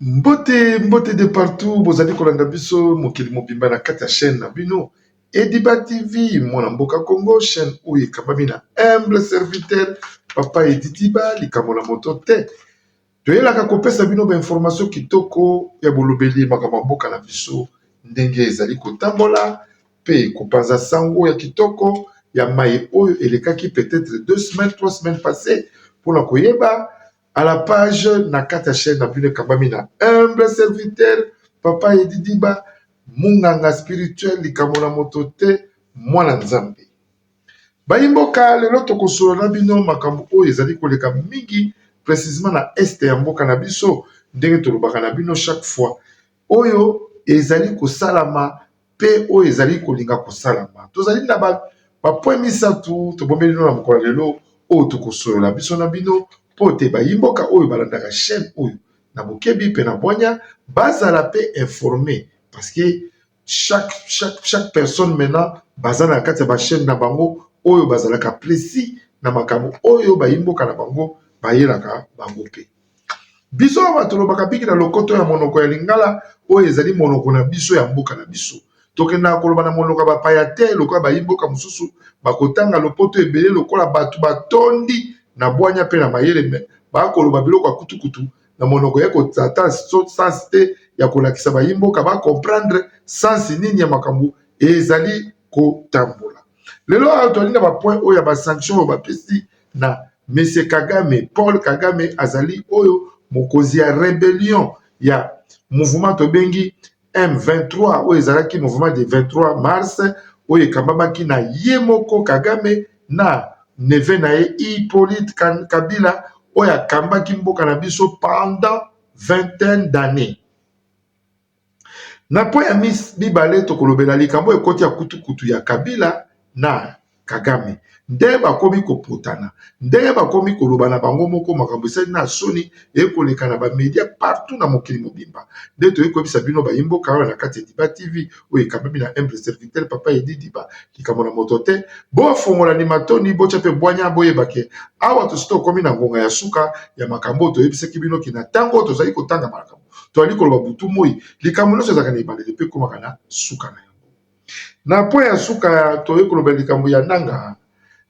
mbote mbote de partout bozali kolanda biso mokili mobimba na kati ya chaîne na bino ediba tv mwana mboka congo chaîne oyo ekambami na humble serviteur papa edidiba likambo na moto te Toyelaka kopesa bino ba information kitoko ya bolobeli makambo ya mboka na biso ndenge ezali kotambola pe kopanza sango ya kitoko ya maye oyo elekaki peut-etre deux semaines trois semaines passee mpona koyeba à la page na kati ya chaine na bino ekambami na humble serviteur papa edidiba munganga spirituel likambo na moto te mwana nzambe Bayimboka lelo tokosolo na bino makambo oyo ezali koleka mingi precisement na este ya mboka na biso ndenge tolobaka na bino chaque fois oyo ezali kosalama pe oyo ezali kolinga kosalama tozali na bapoint misato tobomeli bino na mokolo ya lelo oyo tokosolola biso na bino mpo te bayimboka oyo balandaka chaine oyo na bokebi mpe na bwanya bazala pe informe parceke chaque, chaque, chaque personne maintenant baza na kati ya bachaine na bango oyo bazalaka précis na makambo oyo bayi mboka na bango bayelaka bango mpe biso awa tolobaka biki na lokoto ya monoko ya lingala oyo ezali monoko na biso ya mboka na biso tokendaka koloba na monoko ya bapaya te lokola bayi mboka mosusu bakotanga lopoto ebele lokola bato batondi na bwanya mpe na mayele me bakoloba biloko ya kutukutu na monoko ya koza ata sens te ya kolakisa bayi mboka ba comprendre sens nini ya makambo ezali kotambola lelo awa tozali na bapoint oyo ya basanction oyo bapesi na mese kagame paul kagame azali oyo mokonzi ya rebellion ya mouvement tobengi M23 oyo ezalaki mouvement du 23 mars oyo ekambamaki na ye moko Kagame na neve na ye Hippolyte Kabila oyo akambaki mboka na biso pendant vingtaine d'années. Na mpo ya mibale tokolobela likambo ekoti ya kutukutu ya Kabila na kagame ndenge bakomi kopotana ndenge bakomi koloba na bango moko makambo esali na soni eye koleka na bamedia partout na mokili mobimba nde toyei koyebisa bino bayimboka awa na kati ya diba tv oyo ekambami na humble serviteur papa edi diba likambo na moto te bofungola ni matoni botya mpe bwanya boyebake awa tosi tokomi na ngonga ya suka ya makambo oyo toyebisaki bino kina ntango oyo tozali kotanga makambo toyali koloba butu moi likambo nyonso ezalaka na ebandeli mpe ekomaka na suka na yango Na point ya suka toye koloba likambo ya Nanga.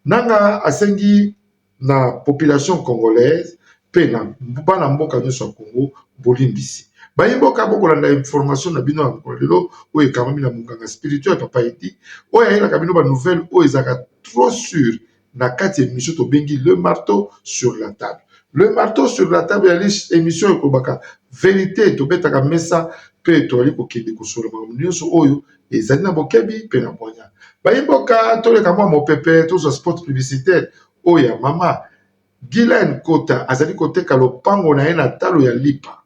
Nanga asengi na population congolaise pe na bana mboka nionso ya Congo bolimbisi. Bayi mboka bokolanda information na bino ya mokolo ya lelo oyo ekangami na monganga spirituel Papa Eddy oyo ayelaka bino ba nouvelles oyo ezalaka trop sure na kati ya emission tobengi le marteau sur la table le marteau sur la table ya emission ekolobaka verite tobetaka mesa mpe toyali kokende kosolo makambo nyonso oyo ezali na bokebi mpe na bwanya bayimboka toleka mwa mopepe tozwa sport publicitaire oyo ya mama gilen kota azali koteka lopango na ye na talo ya lipa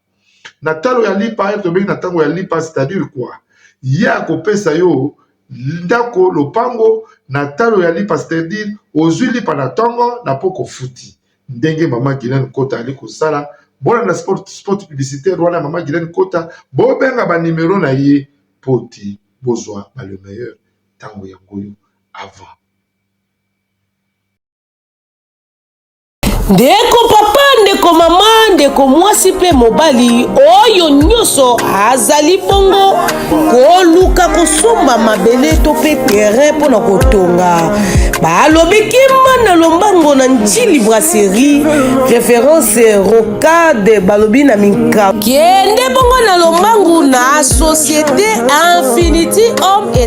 na talo ya lipa ete tobengi na ntango ya lipa c'est-à-dire quoi ye akopesa yo ndako lopango na talo ya lipa c'est-à-dire ozwi lipa na ntongo na mpo kofuti ndenge mama gilene kota ali kosala bolanda sport, sport publicitaire wana mama gilene kota bobenga banimero na ye mpo ti bozwa ba le meilleur ntango yango yo avant Ndeko papa, ndeko mama, ndeko mwasi mpe mobali, oyo nyonso azali bongo koluka kosomba mabele to mpe terrain mpo na kotonga balobi kimba na lombango na ntili brasserie référence rocade balobi na minka kende bongo na lombangu na société infinity homme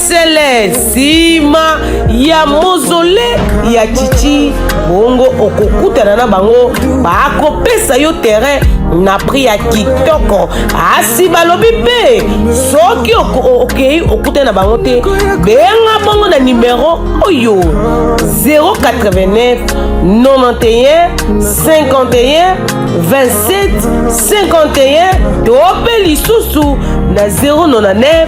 sele nsima ya mozole ya chichi bongo okokutana na bango bakopesa yo terrain na prix ya kitoko asi balobi mpe soki okei okutana na bango te benga bongo na nimero oyo 089 91 51 27 51 to mpe lisusu na 099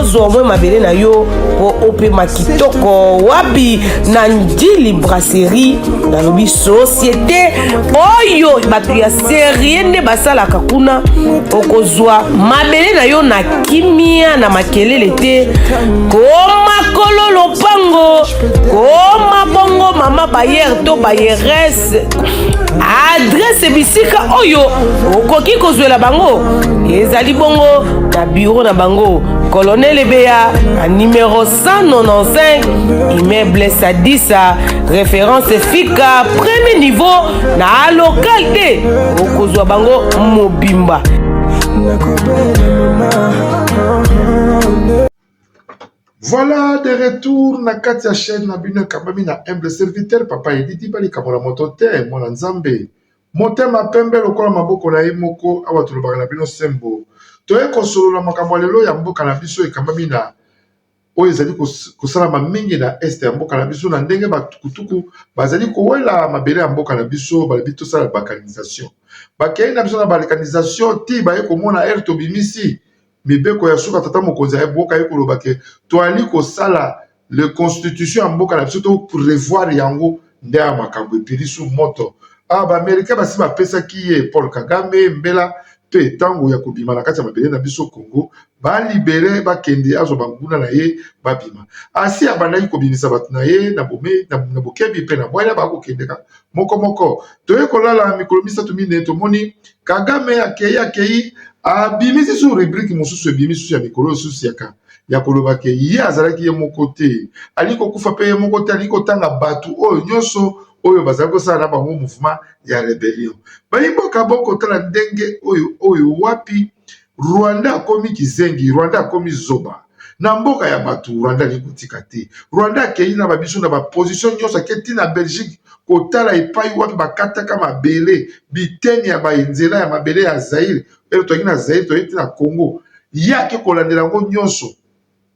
ozwa omwe mabele na yo mpo opema kitoko wapi na ndili brasserie nalobi societe oyo bato ya serie nde basalaka kuna okozwa mabele na yo na kimia na makelele te komakolo lopango koma bongo mama bayer to bayeres adresse adresse bisika oyo okoki kozwela bango ezali bongo na biro na bango colonel ebeya na numero 195 immeuble sadisa référence fika premier niveau na local te okozwa bango mobimba Voilà de retour na kati ya chaine na bino ekambami na humble serviteur papa elidi ba likambo na moto te mwana nzambe motema pembe lokola maboko na ye moko awa tolobaka na bino sembo toye kosolola makambo ya lelo ya mboka na biso ekambami na oyo ezali kosalama mingi na este ya mboka na biso na ndenge batukutuku bazali kowela mabele ya mboka na biso balobi tosala balkanisation bakei na biso na balkanisation ti baye komona ere tobimisi mibeko ya suka tata mokonzi ya mboka ye koloba ke toali kosala le constitution ya mboka na biso to prevoir yango nde ya makambo epeli su moto a ah, baamerikain basi bapesaki ye paul kagame mbela mpe ntango ya kobima na kati ya mabele na biso congo balibere bakende azwa banguna na ye babima asi abandaki kobimisa bato na ye na bokebi mpe na bwanya bakokendeka moko moko toye kolala mikolo misato mine tomoni kagame akei akei abimisi su rubrike mosusu ebimi susu ya mikolo osusu yaka ya koloba ke ye azalaki ye moko te alingi kokufa mpe ye moko te alingi kotanga bato oyo nyonso oyo bazali kosala na bango mouvement ya rebellion bayi mboka bokotala ndenge oyo oyo wapi Rwanda akomi kizengi, Rwanda akomi zoba na mboka ya bato. Rwanda alingi kotika te. Rwanda akei na babiso na baposition nyonso, ake ti na Belgique kotala epai wapi bakataka mabele, biteni ya banzela ya mabele ya Zaire, ele toyaki na Zaire, toyei ti na Congo, ye ake kolandela yango nyonso.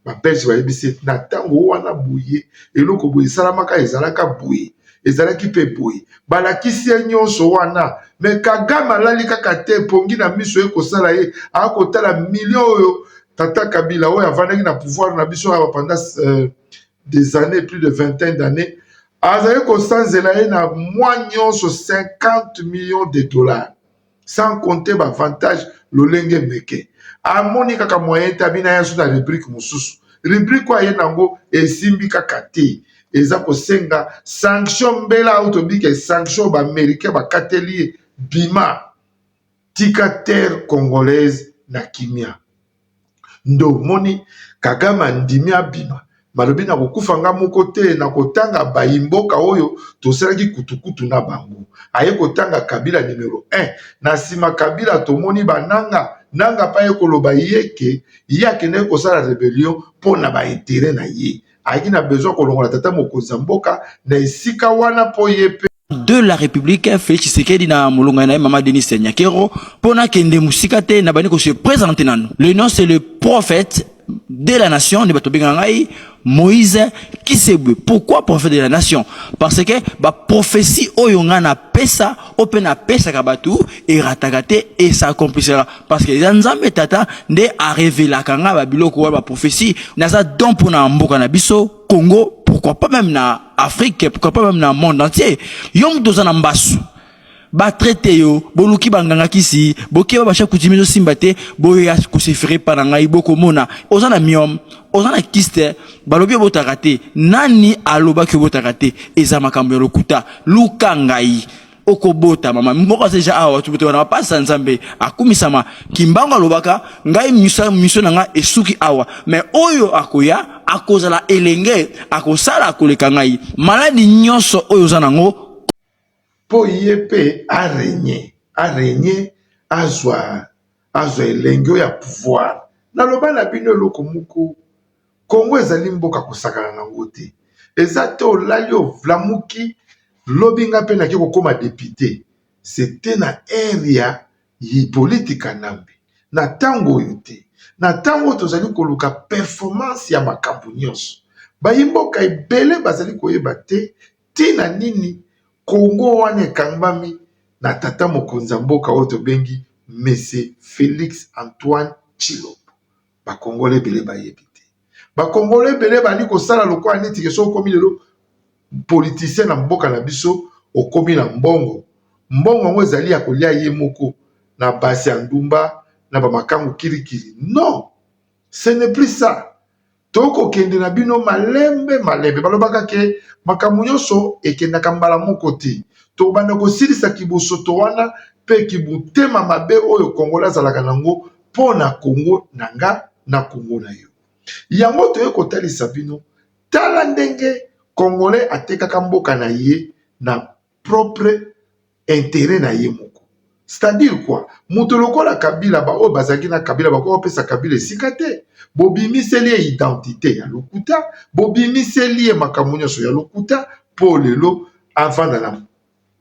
ba belge bayebisi ye na ntango wana boye eloko boye esalamaka ezalaka boye ezalaki mpe boye balakisi ye nyonso wana me kagame alali kaka te mpongi na miso ye kosala ye akotala milio oyo tata kabila oyo avandaki na pouvoir na biso awa pendant euh, des années plus de vingtaine d'années azali kosanzela ye na mwa nyonso 50 millions de dollars sans compter ba avantage lolenge meke amoni kaka moyen te abina yasu na rubrique mosusu rubrique oyo aye nango esimbi kaka te eza kosenga sanction mbela oyo tobike sanction ba américain bakateli ye bima tika terre congolaise na kimia nde omoni kagame andimi abima malobi na kokufa nga moko te na kotanga bayi mboka oyo tosalaki kutukutu na bango aye kotanga kabila numero 1 na nsima kabila tomoni bananga nanga pa ye koloba ye ke ye akendaki kosala rebellion mpo na ba intere na ye ayaki na besoin kolongola tata mokonzi ya mboka na esika wana mpo ye mpe de la République Félix Tshisekedi na molonga na ye mama Denis Nyakero mpo nakende mosika te na bandi kose présente nanu le nom c'est le prophète de la nation nde bato bengaka ngai moïse kisebwe pourquoi prophète de la nation parce que baprophétie oyo ngai napesa oyo mpe napesaka bato erataka te esakomplisaka parce que eza nzambe tata nde arevelaka ngai babiloko wana baprophesie naza don mpo na mboka na biso congo pourquoi pas même na afrique pourquoi pas même na monde entier yo moto oza na mbasu batraite yo boluki banganga kisi bokeba basha kutimi ezosimba te boya kosefere epa na ngai bokomona oza na miome oza na kiste balobi obotaka te nani alobaki obotaka te eza makambo ya lokuta luka ngai okobota mama moko aza deja awa tubuto wana bapasi ya nzambe akumisama kimbangu alobaka ngai misa miso na ngai esuki awa me oyo akoya akozala elenge akosala koleka ngai maladi nyonso oyo oza nango mpo ye mpe arenye arenye azwa azwa elengi oyo ya pouvoir naloba na bino eloko moko congo ezali mboka kosakana na yango te eza te olali ovlamuki lobi nga mpe nake kokoma depute sete na ere ya yipoliti kanambe na ntango oyo te na ntango oyo tozali koluka performance ya makambo nyonso bayi mboka ebele bazali koyeba te ntina nini Congo wana ekangbami na tata mokonzi ya mboka oyo tobengi Mese Felix Antoine Tshilombo? Ba Congolais ebele bayebi te. Ba Congolais ebele bali kosala lokola neti ke soki okomi lelo politicien na mboka na biso okomi na mbongo. Mbongo yango ezali ya kolia ye moko na basi ya ndumba na bamakangu kilikili. Non, ce n'est plus ça. tokokende na bino malembe malembe. Balobaka ke makambo nyonso ekendaka mbala moko te, tokobanda kosilisa kibosoto wana mpe kibutema mabe oyo kongola azalaka na yango mpo na kongo na nga na kongo na yo. Yango toye kotalisa bino, tala ndenge kongole atekaka mboka na ye na propre interet na ye moko c'est-à-dire quoi moto lokola kabila baoyo bazalaki na kabila bakoki kopesa kabila esika te bobimiseli ye identité ya lokuta bobimiseli ye makambo nyonso ya lokuta mpo lelo avanda na,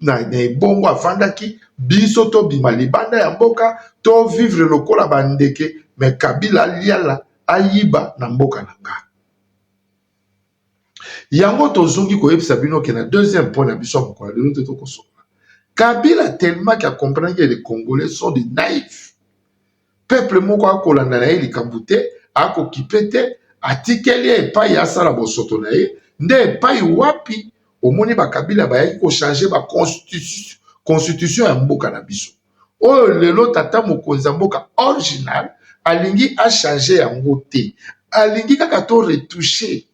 na, na ebongo avandaki biso tobima libanda ya mboka to vivre lokola bandeke me kabila aliala ayiba na mboka na nga yango tozongi koyebisa bino ke na deuxième point na biso ya mokolo lelo te tokosolola kabila tellement ke acomprendre ke les congolais sont des naïfs peuple moko akolanda na ye likambo te akokipe te atikeli ye epai asala bosoto na ye nde epai wapi omoni bakabila bayaki kochange baconstitution ya mboka na biso oyo lelo tata mokonzi ya mboka original alingi a change yango te alingi kaka to retouche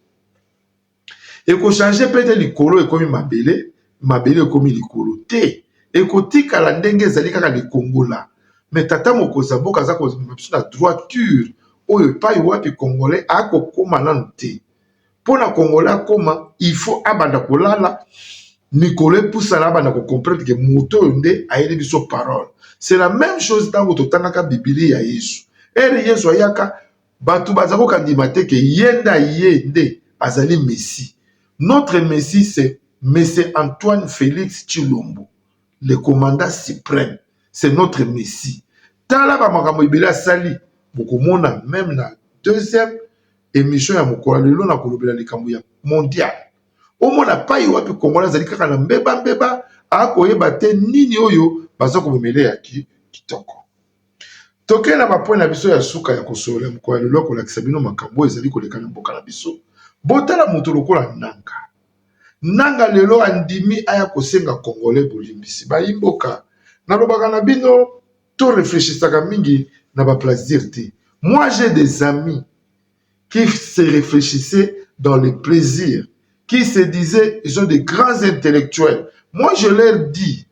ekochange mpe te likolo ekomi mabele mabele ekomi likolo te ekotikala ndenge ezali kaka likongola me tata mokonzi ya mboka aza kozma biso na droiture oyo epai wapi congolais akokoma nano te mpo na congolais akoma il faut abanda kolala mikolo epusana abanda kocomprendre ke moto oyo nde ayeli biso parole c'est la même chose ntango totangaka bibili ya yesu ere yesu ayaka bato baza kokandima te ke ye nde aye nde azali messi notre messi c'est mese antoine félix chilombo le commandant supreme c'est notre messi tala ba makambo ebele asali bokomona meme na deuxième emission ya mokolo lelo na kolobela likambo ya mondial omona pai wapi kongola azali kaka na mbeba mbeba akoyeba te nini oyo baza komemele ya ki kitoko tokei na bapwe na biso ya suka ya kosolola mokolo ya lelo kolakisa bino makambo oyo ezali koleka na mboka na biso botala moto lokola nanga Nanga lelo andimi aya kosenga congolais bolimbisi bayimboka nalobaka na bino to reflechisaka mingi na ba plasdir te moi je des ami qui se reflechissait dans le plaisir qui se disait ils ont de grands intellectuels moi je leur dis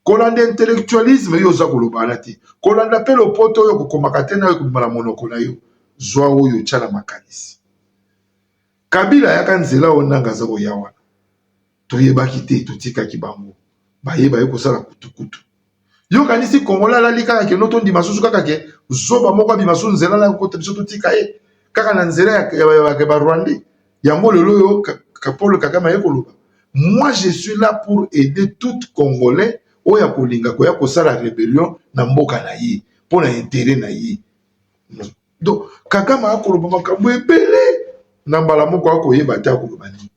kolanda intellectualisme yo oza koloba wana te kolanda mpe lopoto oyo kokomaka te nayo ekobima na monoko na yo zwa oyo otya na makanisi Kabila ayaka nzela oyo nanga aza koya wana toyebaki te totikaki bango baye baye kosala kutukutu yo kanisi kongola alali kaka keno tondima susu kaka ke zoba moko abima susu nzela na kokota biso totika ye kaka na nzela ya barwandais yango lelo oyo polo kagame aye koloba moi je suis là pour aider tout congolais oyo akolinga koya kosala rebellion na mboka na ye mpo na intere na ye donc kagame akoloba makambo ebele na mbala moko akoyeba te akoloba nini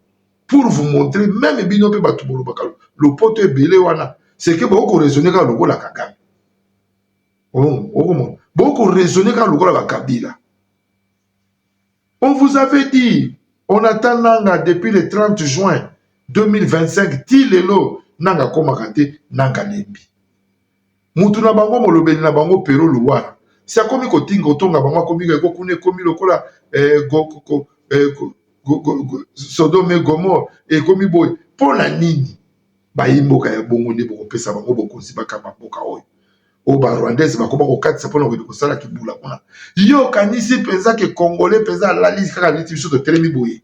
pour vous montrer meme bino mpe bato bolobaka lopoto ebele wana seke bokoraisonne kaka lokola kagame okomona bokoraisonne kaka lokola bakabila on vous avait dit on attend nanga depuis le 30 juin 2025 ti lelo nanga akomaka te nanga lembi mutu na bango molobeli na bango Pero Luwara si akomi kotinga kotonga bango akomi eko kuna ekomi lokola eh, go, go, go, eh, go, go, go, go, Sodome Gomor ekomi boye mpo na nini bayi mboka ya bongo nde bokopesa bango bokonzi bakamba mboka oyo oyo barwandais bakoma kokatisa mpona kokende kosala kibula kuna yo okanisi mpenza ke congolais mpenza alali kaka neti biso totelemi boye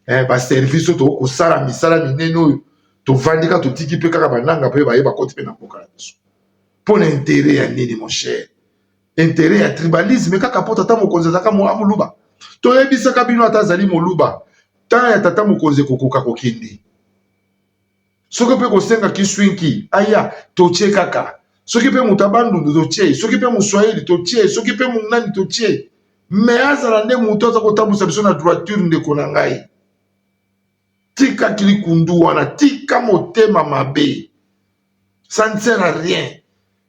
eh, baservice oyo tokoki kosala misala minene oyo tovandi kaka totiki mpe kaka bananga mpe baye bakoti mpe na mboka na biso mpo na intere ya nini mon cher intere ya tribalisme kaka mpo tata mokonzi azalaka moluba toyebisaka bino ata azali moluba ntan ya tata mokonzi ekokoka kokende soki mpe kosenga kiswinki aya totie kaka soki mpe moto abandundu totie soki mpe moswahili totie soki mpe monani totie me azala nde moto aza kotambwisa biso na droiture ndeko na ngai tika kilikundu wana tika motema mabe ça ne sert à rien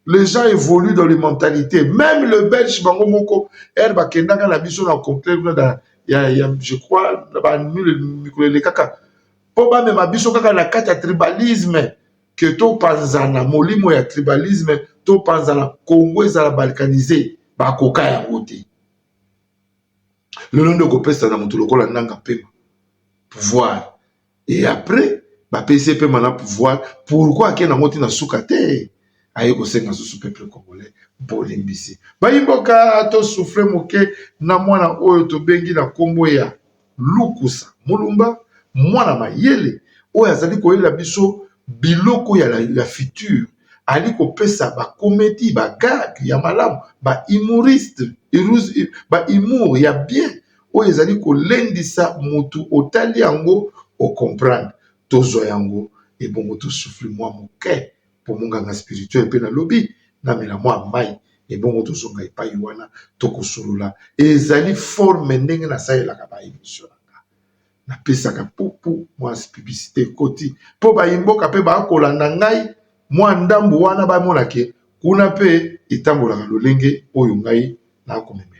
les gens évoluent dans les mentalités même le belge bango moko ere bakendaka na biso na conclave na ya, ya je crois na banule mikolo elekaka mpo bamema biso kaka na kati ya tribalisme ke topanzana molimo ya tribalisme topanzana congo ezala balkanise bakoka yango te lelo nde okopesa na moto lokola nanga mpema pouvoir et après bapesi ye pema na pouvoir pourkoi ake nango ti na suka te aye kosenga susu peuple congolais bolimbisi bayimboka tosufre moke na mwana oyo tobengi na nkombo ya lukusa mulumba mwana mayele oyo azali koyela biso biloko ya, la, ya future ali kopesa bakomedi bagage ya malamu baimuriste baimour ya bien oyo ezali kolendisa motu otali yango ocomprendre tozwa yango ebongo tosufle mwa moke po monganga spirituel pe nalobi na mela mwa mai ebongo tozonga epai wana tokosolola ezali forme ndenge nasalelaka ba emission na nga napesaka pupu mwa publicite ekoti po bayi mboka pe bakolanda ngai mwa ndambu wana bamonake kuna pe etambolaka lolenge oyo ngai nakomema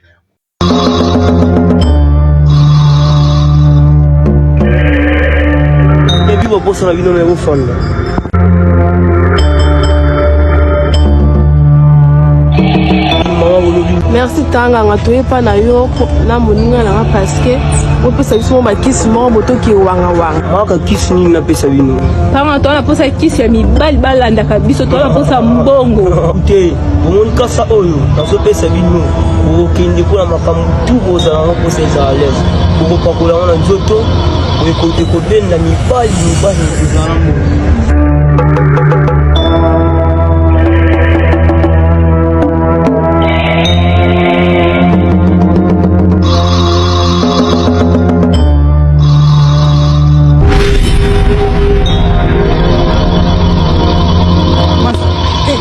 posa na bino na ekofanda merci tanganga toyepa na yo na moninga nanga parceke opesa biso mo bakisi moko botoki wangawanga maka kisi nini napesa bino tanga toa naposa kisi ya mibali balandaka biso toa naposa mbongo te bomoni kasa oyo nazopesa bino bokokende mpo na makambo tu bozala yango mposa ezala lese bokopakola yango na nzoto ekobenda mibali mibali kozala yango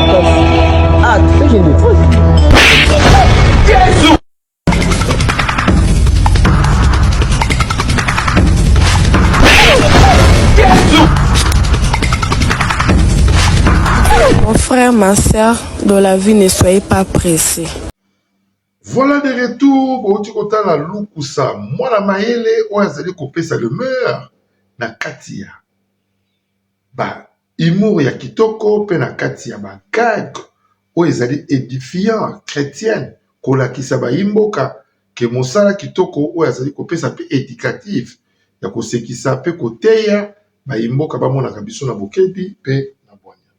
Ah, Mon frère, ma soeur, dans la vie, ne soyez pas pressés. Voilà de retour bouti kotala lukusa mwana mayele oyo azali kopesa le meilleur na kati ya ba Humour ya kitoko pe na kati ya ba gag oyo ezali edifiant, chretienne, kolakisa bayimboka que mosala kitoko oyo azali kopesa pe educative ya kosekisa pe koteya bayimboka bamonaka biso na bokebi pe na bwanya.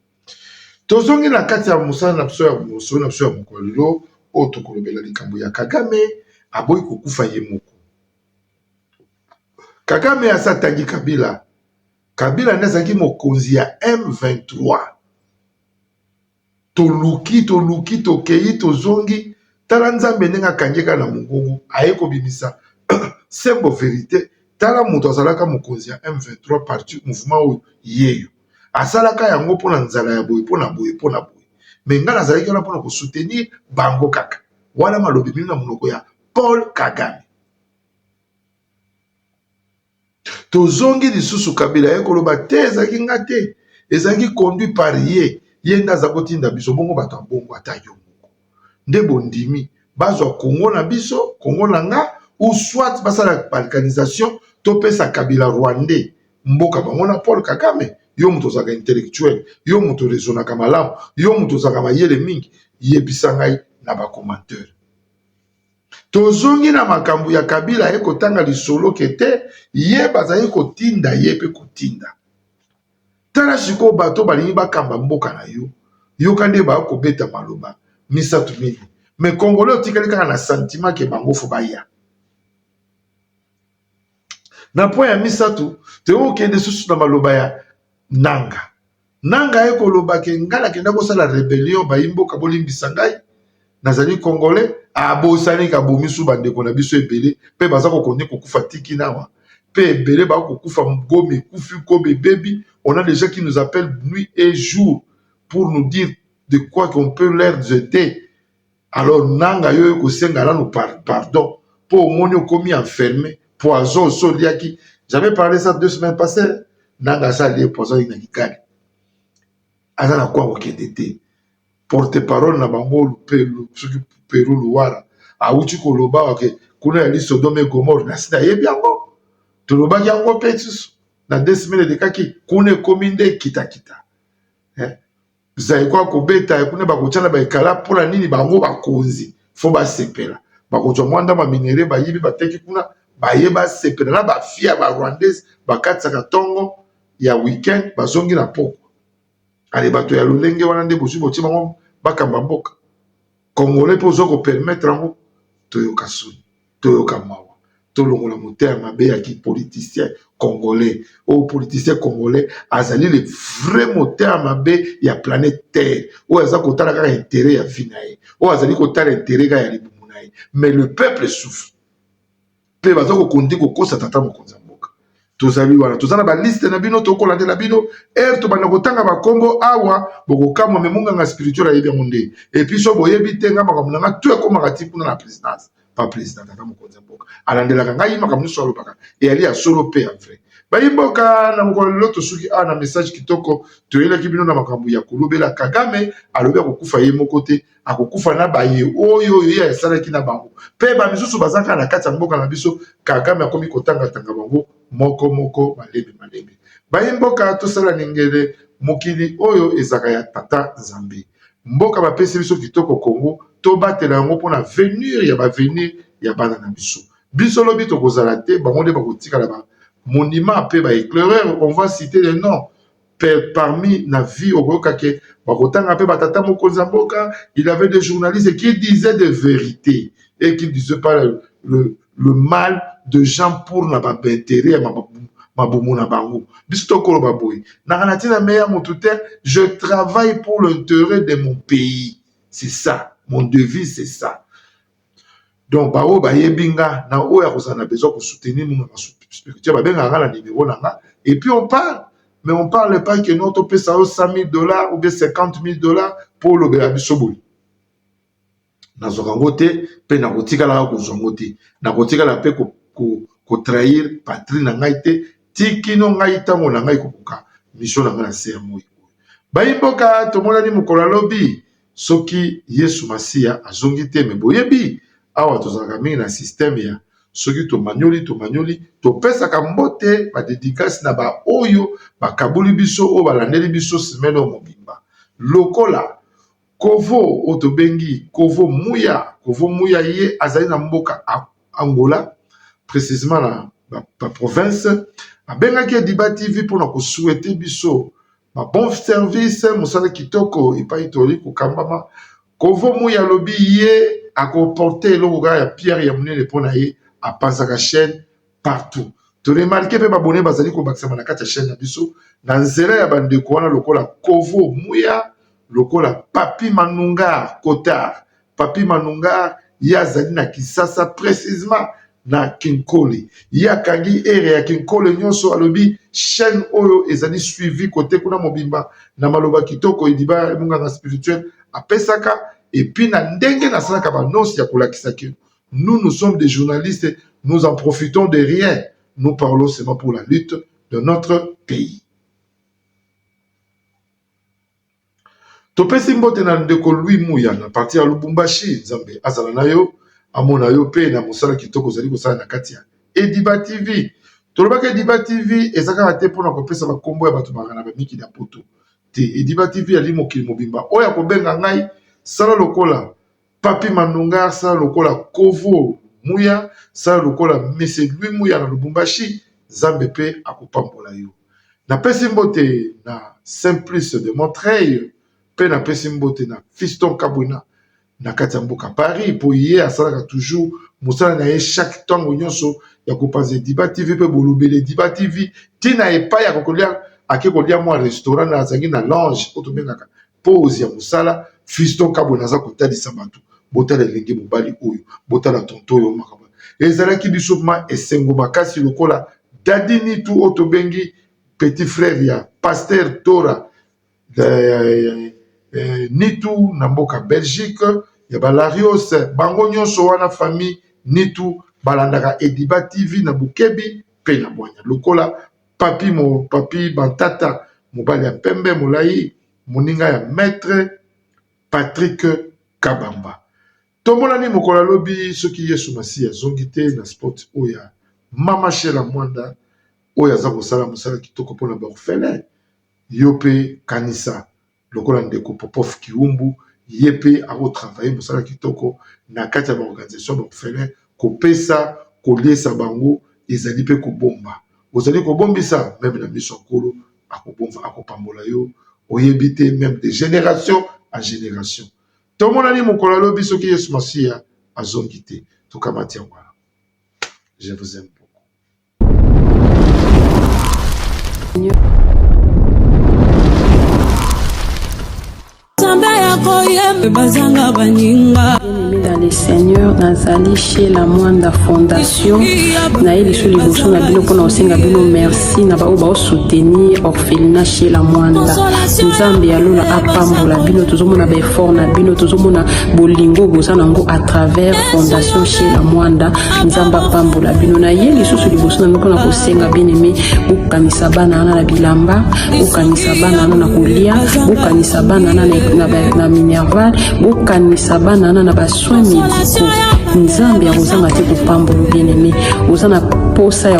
Tozongi na kati ya mosala na biso ya mosolo na biso ya mokolo ya lelo oyo tokolobela likambo ya Kagame aboyi kokufa ye moko. Kagame asi atangi Kabila Kabila nde azalaki mokonzi ya M23. Toluki, toluki, tokei, tozongi. Tala Nzambe ndenge akangi ye kaka na mongongo, aye kobimisa sembo verite. Tala moto azalaka mokonzi ya M23 parti mouvement oyo yeyo asalaka yango mpo na nzala ya boye mpo na boye mpo na boye, me ngai nazalaki wana mpo na kosoutenir bango kaka. Wana malobi bino na monoko ya Paul Kagame. tozongi lisusu kabila aye koloba te ezalaki nga te ezalaki conduit par ye ye nde aza kotinda biso bongo bato ya bongo ata yo moko nde bondimi bazwa kongo na biso kongo na nga ou soit basala balkanisation topesa kabila rwandais mboka bango na paul kagame yo moto ozalaka intellectuel yo moto rezonaka malamu yo moto ozalaka mayele mingi yebisa ngai na bacomanteur Tozongi na makambu ya kabila aye kotanga lisolo ke te ye bazali kotinda ye pe kotinda tala sikoyo bato balingi bakamba mboka na yo yoka nde ba kobeta maloba misatu mingi me congolais otikali kaka na sentiment ke bango fo baya na point ya misatu teo kende susu na maloba ya nanga nanga ye koloba ke ngai nakenda kosala rebellion bayi mboka bolimbisa ngai nazali congolais abosani ke abomisu bandeko na biso ebele mpe baza kokondi kokufa tiki nawa mpe ebele bakokufa gomi ekufi kobe ebebi on a dejà qui nous appelle nuit et jour pour nous dire de quoi qu'on peut leur jeter Alors nanga yo kosenga nanu pardon po omoni okomi enferme poison osi oliaki j'avais parlé ça deux semaines passées nanga asa alie poison na kikali aza na kwa kokende te porte parole na bango soki peru luwara awuti koloba oke kuna yali sodome gomore nasi nayebi yango tolobaki yango mpe lisusu na deux semaines elekaki kuna ekomi nde kitakita eh? zaiko akobeta ye kuna bakotyana baekala mpona nini bango bakonzi fo basepela bakozwa mwa ndambo ya minere bayibi bateki kuna baye basepela na bafia ya barwandais bakatisaka ntongo ya weekend bazongi na pokwa ale bato ya lolenge wana nde bozwi botie bango bakamba mboka congolais mpe ozo kopermettre yango toyoka soni toyoka mawa tolongola moto ya mabe ya ki politicien congolais oyo politicien congolais azali le vrai moto ya mabe ya planète terre oyo aza kotala kaka intérêt ya vie na ye oyo azali kotala intérêt kaka ya libumu na ye mais le peuple souffre mpe baza kokondi kokosa tata mokonzi ya mboka tozali wana toza na baliste na bino tokolandela bino ere tobanda kotanga bakombo awa bokokamwa me monganga spirituel ayebi yango nde epuis so boyebi te ngai makambo na ngai to ekomaka ti kuna na présidence pa président tata mokonzi ya mboka alandelaka ngai makambo nyonso alobaka eyali ya solo mpe ya vrai bayimboka na mokolo lelo tosuki awa na message kitoko toyelaki bino na makambo ya kolobela kagame alobi akokufa ye moko te akokufa na baye oyo oyo ye asalaki na bango mpe bamisusu baza kaka na kati ya mboka na biso kagame akomi kotangatanga bango moko moko malembe malembe bayi mboka tosala ningele mokili oyo ezaka ya tata nzambe mboka bapesi biso kitoko kongo tobatela yango mpona venir ya bavenir ya bana na biso biso lobi tokozala te bango nde bakotikala ba monima mpe ba eclaireur on va cite le nom parmi na vie okoyoka ke bakotanga pe batata mokonzi ya mboka il avait des journalistes qui disaient des vérités et qui disaient pas le, le, le mal de gens pour na baintérêt ya mabumu na bango biso tokoloba boye nanga na ntina meya motu te je travaille pour l'intérêt de mon pays c'est ça mon devise c'est ça donc baoyo bayebi nga na oyo akozala na besoin kosoutenir muna na spirituel babengaka nga na nimero na nga et puis on parle mais on parle pas que no topesa yo 100 000 dollars ou bien 50 000 dollars mpo olobela biso boye nazwaka yango te mpe nakotikalaka kozwa yango te nakotikala mpe kotrahir patrie na ngai te tikino ngai ntango na ngai kokoka misio na ngai na se ya moi oyo bayimboka tomonani mokolo alobi soki yesu masiya azongi te me boyebi awa tozalaka mingi na systeme ya soki tomanioli tomanioli topesaka mbote badedikasi na baoyo bakaboli biso oyo balandeli biso semele oyo mobimba lokola kovo oyo tobengi kovo muya kovo muya ye azali na mboka angola precisement na baprovince abengaki ediba tv mpona kosuete biso Ba bon service mosala kitoko epai toli kokambama kovo muyi alobi ye ako porte eloko kaka ya pierre ya monene mpo na ye apanzaka chaine partout to remarke mpe babone bazali kobakisama na kati ya chaine na biso na nzela ya bandeko wana lokola kovo muya lokola papi manunga cotard Papy Manungar ye azali na Kisasa precisement na Kinkole. Ye akangi area ya Kinkole nyonso alobi chaîne oyo ezali suivi kote kuna mobimba na maloba kitoko Ediba munganga spirituel apesaka et puis na ndenge nasalaka b'annonce ya kolakisa que nous nous sommes des journalistes nous en profitons de rien nous parlons seulement pour la lutte de notre pays. Topesi mbote na ndeko Louis Muya na partir ya Lubumbashi, Nzambe azala na yo amona yo pe na mosala kitoko ozali kosala na kati ya Ediba TV. Tolobaki Ediba TV eza kaka te mpona kopesa ba kombo ya bato bangana ba mikili ya poto te. Ediba TV ezali mokili mobimba oyo akobenga ngai sala lokola Papy Mandonga asala lokola Kovo Muya, sala lokola Monsieur Louis Muya na Lubumbashi, Nzambe mpe akopambola yo. Napesi mbote na Saint Plus de Montreuil mpe napesi mbote na Fiston Kabwina na kati ya mboka Paris mpo ye asalaka toujours mosala na ye chaque ntango nyonso ya kopanza Ediba TV mpe bolobeli Ediba TV ntina epai ya kokolia ake kolia mwa restaurant na azangi na lange oyo tobengaka pose ya mosala fiston kabwe naza kotalisa bato botala elenge mobali oyo botala tonto oyo makambo ezalaki biso ma esengo makasi lokola dadi nitu oyo tobengi petit frère ya paster tora eh, eh, nitu na mboka belgique ya balarios bango nyonso wana famille nitu balandaka ediba tv na bokebi mpe na bwanya lokola Papy mo papy matata mobali ya pembe molayi moninga ya maitre Patrick kabamba tomonani mokolo ya lobi soki yesu masiya azongi te na spot oyo ya mama shela mwanda oyo aza kosala mosala kitoko mpona ba orphelin yo mpe kanisa lokola ndeko Popov Kiumbu ye pe ako travailler musala kitoko na kati ya ba organisation ya ba orphelins kopesa koliesa bango ezali pe kobomba ozali kobombisa meme na miso ya Nkolo akobomba akopambola yo oyebi te meme de generation en generation tomonani mokolo ya lobi soki Yesu Masiya azongi te tokamati yango wana je vous aime beaucoup. bazanga baninga dans le seigneur nazali chez la mwanda fondation naye lisu liboso na bino mpona kosenga bino merci na baoyo baosoutenir felina shela mwanda nzambe ya lola apambola bino tozomona baeffort na bino tozomona bolingo boza nango à travers fondation shela mwanda nzambe apambola bino na ye lisusu liboso na bino mpona kosenga bien aime bokanisa bana wana na bilamba bokanisa bana wana na kolia bokanisa bana wana na minerval bokanisa bana wana na basoin médicaux nzambe akozanga te kopambola bien aime oza na posa ya